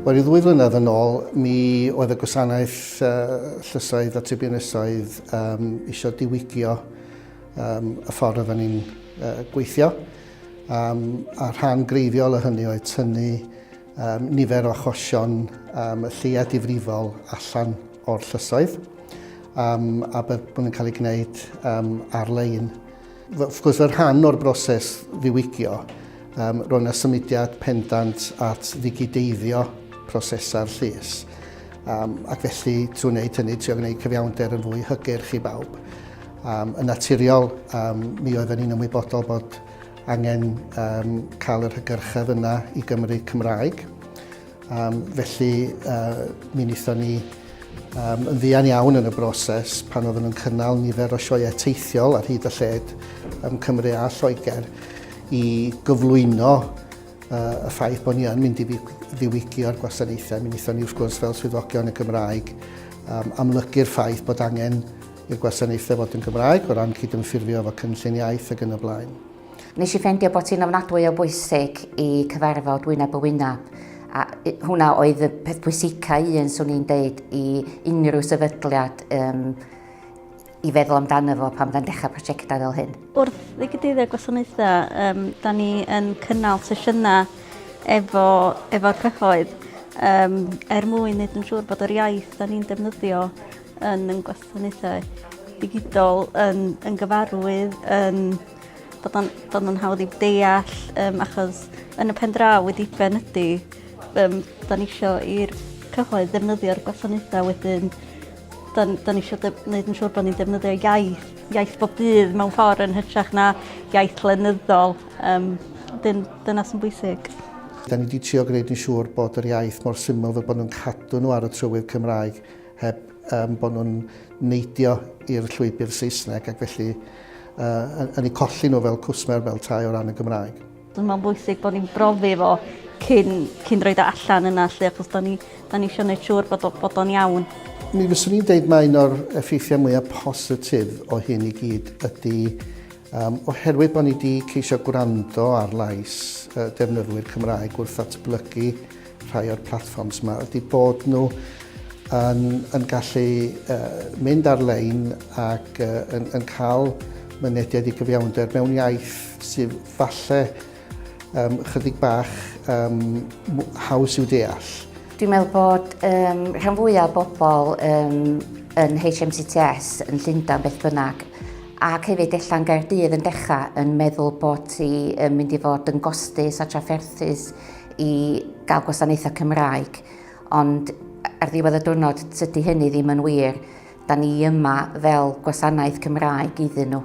Wel, i ddwy flynedd yn ôl, mi oedd y gwasanaeth uh, llysoedd a tribiwnysoedd um, eisiau diwygio um, y ffordd oedden ni'n uh, gweithio. Um, a rhan greiddiol o hynny oedd tynnu um, nifer o achosion um, y lleia difrifol allan o'r llysoedd um, a bydd bod yn cael ei gwneud um, ar-lein. Wrth gwrs, fel rhan o'r broses ddiwygio, um, roedd yna symudiad pendant at ddigideiddio prosesau'r llys. Um, ac felly, trwy wneud hynny, trwy gwneud cyfiawnder yn fwy hygyrch i bawb. Um, yn naturiol, um, mi oedden ni'n ymwybodol bod angen um, cael yr hygyrchedd yna i Gymru Cymraeg. Um, felly, uh, mi wnaethon ni um, yn ddian iawn yn y broses pan oedden nhw'n cynnal nifer o sioeau teithiol ar hyd y lled ym Cymru a Lloegr i gyflwyno uh, y ffaith bod ni yn mynd i ddiwygio'r gwasanaethau. Mi wnaethon ni, wrth gwrs, fel swyddogion y Gymraeg, um, amlygu'r ffaith bod angen i'r gwasanaethau fod yn Gymraeg o ran cydymffurfio efo cynllun iaith ac yn y blaen. Nes i ffendio bod hi'n ofnadwy o bwysig i cyfarfod wyneb y wyneb a hwnna oedd y peth pwysica un swn i'n deud i unrhyw sefydliad um, i feddwl amdano fo pan fydda'n dechrau prosiectau fel hyn. Wrth ddigydyddio gwasanaethau, um, da ni yn cynnal sesiynau efo, efo'r cyhoedd um, er mwyn wneud yn siŵr bod yr iaith da ni'n defnyddio yn yn gwasanaethau digidol yn, yn gyfarwydd yn bod o'n, bod o'n hawdd i'w deall um, achos yn y pen draw wedi ben ydy um, da ni eisiau i'r cyhoedd ddefnyddio'r gwasanaethau wedyn da, da ni eisiau gwneud yn siŵr bod ni'n defnyddio iaith, iaith bob dydd mewn ffordd yn hytrach na iaith lenyddol. Um, dyn, dyna sy'n bwysig. Da ni wedi trio gwneud yn siŵr bod yr iaith mor syml fel bod nhw'n cadw nhw ar y trywydd Cymraeg heb um, bod nhw'n neidio i'r llwybr Saesneg ac felly uh, yn ei colli nhw fel cwsmer fel tai o ran y Gymraeg. Dwi'n meddwl bwysig bod ni'n brofi fo cyn, cyn roed o allan yna lle, achos da ni, da ni eisiau gwneud siŵr bod, bod o'n iawn. Mi fyswn i'n deud mae un o'r effeithiau mwyaf positif o hyn i gyd ydy Um, oherwydd bod ni wedi ceisio gwrando ar lais uh, defnyddwyr Cymraeg wrth atblygu rhai o'r platforms yma, ydy bod nhw yn, yn gallu uh, mynd ar-lein ac uh, yn, yn cael mynediad i gyfiawnder mewn iaith sydd falle um, chydig bach um, haws i'w deall. Dwi'n meddwl bod um, rhan fwyaf o bobl um, yn HMCTS yn Llundain beth bynnag ac hefyd allan Gaerdydd yn dechrau yn meddwl bod ti yn mynd i fod yn gostus a trafferthus i gael gwasanaethau Cymraeg. Ond ar ddiwedd y diwrnod, tydi hynny ddim yn wir. Da ni yma fel gwasanaeth Cymraeg iddyn nhw.